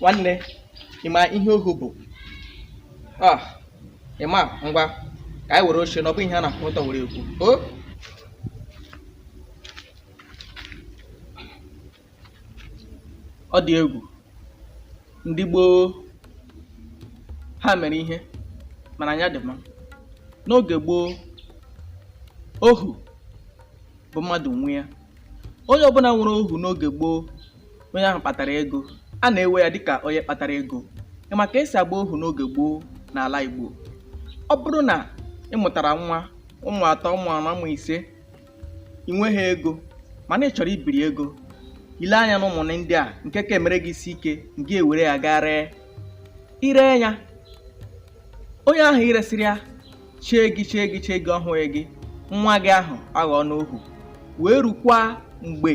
nwanne ịma ihe ohu bụ ah, ịma ngwa ka anyị were oche na ọ bụ ihe a na-akwụ ọtọ were ekwu ọ dị egwu ndị gboo ha mere ihe mana anya dị mma n'oge gboo ohu bụ mmadụ nwe ya onye ọbụla nwere ohu n'oge gboo onye ahụ kpatara ego a na-ewe ya dịka onye kpatara ego ịma ka esi agba ohu n'oge gboo n'ala Igbo ọ bụrụ na ị mụtara nwa ụmụ atọ ụmụ anọ ụmụ ise ị nweghị ego mana ị chọrọ ibiri ego ile anya na ụmụ gị ndị a nke ka emere gị isi ike ngị ewere ya gaa ree ire ya onye ahụ iresịrị ya chee gị chee gị chee gị ọ hụghị gị nwa gị ahụ aghọọ n'ohu wee rukwa mgbe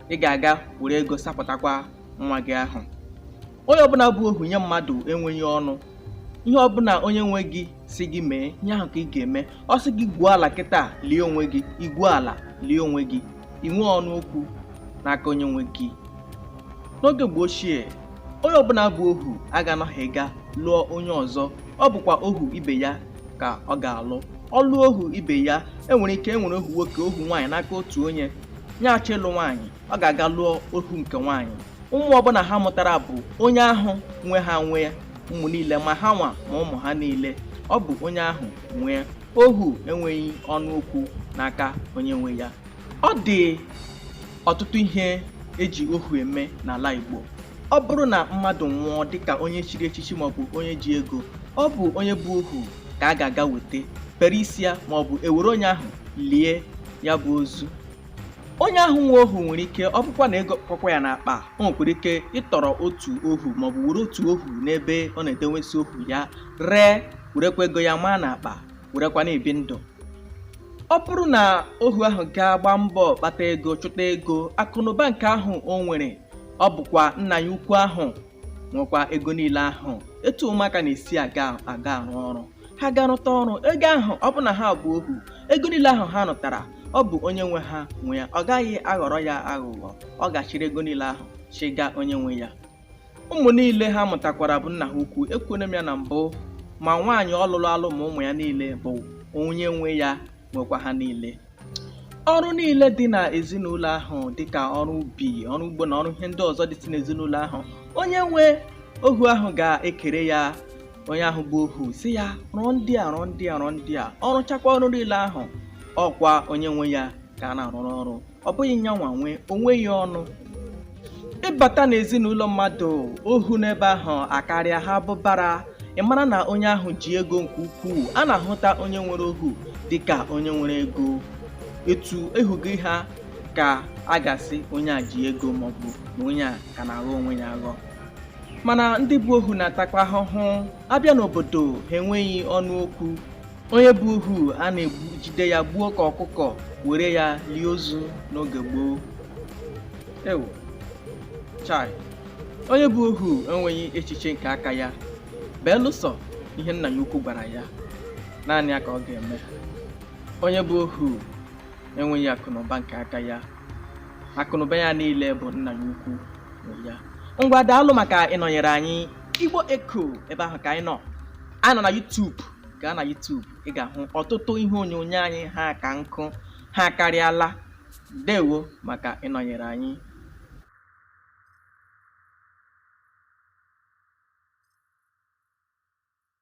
ị ga-aga were ego sapụtakwa nwa gị ahụ onye ọbụla bụ ohu nye mmadụ enweghị ọnụ ihe ọbụla onye nwe gị si gị mee ihe ahụ ka ị ga-eme ọ sị gị gwuo ala kịta lie onwe gị igwuo ala lie onwe gị inwe ọnụ okwu n'aka onye nwe gị n'oge mgbe ochie onye ọbụla bụ ohu a ga-anọghị ga lụọ onye ọzọ ọ bụkwa ohu ibe ya ka ọ ga-alụ ọ lụọ ohu ibe ya enwere ike enwere ohu nwoke ohu nwaanyị n'aka otu onye nya achọọ ịlụ nwaanyị ọ ga-aga lụọ ohu nke nwaanyị ụmụ ọbụla ha mụtara bụ onye ahụ nwe ha nwe ya ụmụ niile ma ha nwa ma ụmụ ha niile ọ bụ onye ahụ nwe ya ohu enweghị ọnụ okwu n'aka onye nwe ya ọ dị ọtụtụ ihe eji ohu eme n'ala Igbo ọ bụrụ na mmadụ nwụọ dịka onye chiri echichi maọbụ onye ji ego ọ bụ onye bụ ohu ka a ga-aga weta bere isi ya maọbụ ewere onye ahụ lie ya bụ ozu onye ahụ nwe ohu nwere ike ọ bụkwa na ego kọkwa ya n'akpa o nwekwara ike ịtọrọ otu ohu maọbụ were otu ohu n'ebe ọ na-edewesi ohu ya ree werekwa ego ya maa n'akpa werekwa na-ebi ndụ ọ bụrụ na ohu ahụ gaa gbaa mbọ kpata ego chụta ego akụnụba nke ahụ o nwere ọ bụkwa nna ya ukwu ahụ nwekwa ego niile ahụ etu ụmụaka na-esi aga arụ ọrụ ha ga-arụta ọrụ ego ahụ ọ bụ na ha bụ ohu ego niile ahụ ha rụtara ọ bụ onye nwe ha nwe ya ọ gaghị aghọrọ ya aghụghọ ọ ga-achịrị ego niile ahụ chịga onye nwe ya ụmụ niile ha mụtakwara bụ nna ha ukwu ekwuone m ya na mbụ ma nwaanyị ọ lụlụ alụ ma ụmụ ya niile bụ onye nwe ya nwekwa ha niile ọrụ niile dị na ezinụlọ ahụ dịka ọrụ ubi ọrụ ugbo na ọrụ ihe ndị ọzọ dịsị n'ezinụlọ ahụ onye nwe ohu ahụ ga-ekere ya onye ahụ bụ ohu sị ya rụọ ndị a rụọ ndị a rụọ ndị a ọ rụchakwa ọrụ niile ahụ ọkwa onye nwe ya ka a na-arụrụ ọrụ ọ bụghị ya nwa nwe o nweghị ọnụ ị bata n'ezinụlọ mmadụ ohu n'ebe ahụ akarịa ha bụ ụbara ị mara na onye ahụ ji ego nke ukwuu a na-ahụta onye nwere ohu dịka onye nwere ego etu ohu gị ha ka a ga-asị onye a ji ego maọbụ na onye a ka na-aghọ onwe ya aghọ mana ndị bụ ohu na-atakwa ahụhụ a bịa n'obodo ha enweghị ọnụ okwu onye bụ ohu a na-ejide ya gbuo ka ọkụkọ were ya lie ozu n'oge gboo ewu chai onye bụ ohu enweghị echiche nke aka ya belụsọ ihe nna ya ukwu gwara ya naanị ya ka ọ ga-eme onye bụ ohu enweghị akụnụba nke aka ya akụnụba ya niile bụ nna ya ukwu nwe ya ngwa daalụ maka ịnọnyere anyị Igbo Echo ebe ahụ ka anyị nọ anyị nọ na YouTube gaa na YouTube ị ga-ahụ ọtụtụ ihe onyonyo anyị ha ka nkụ ha karịala ndewo maka ịnọnyere anyị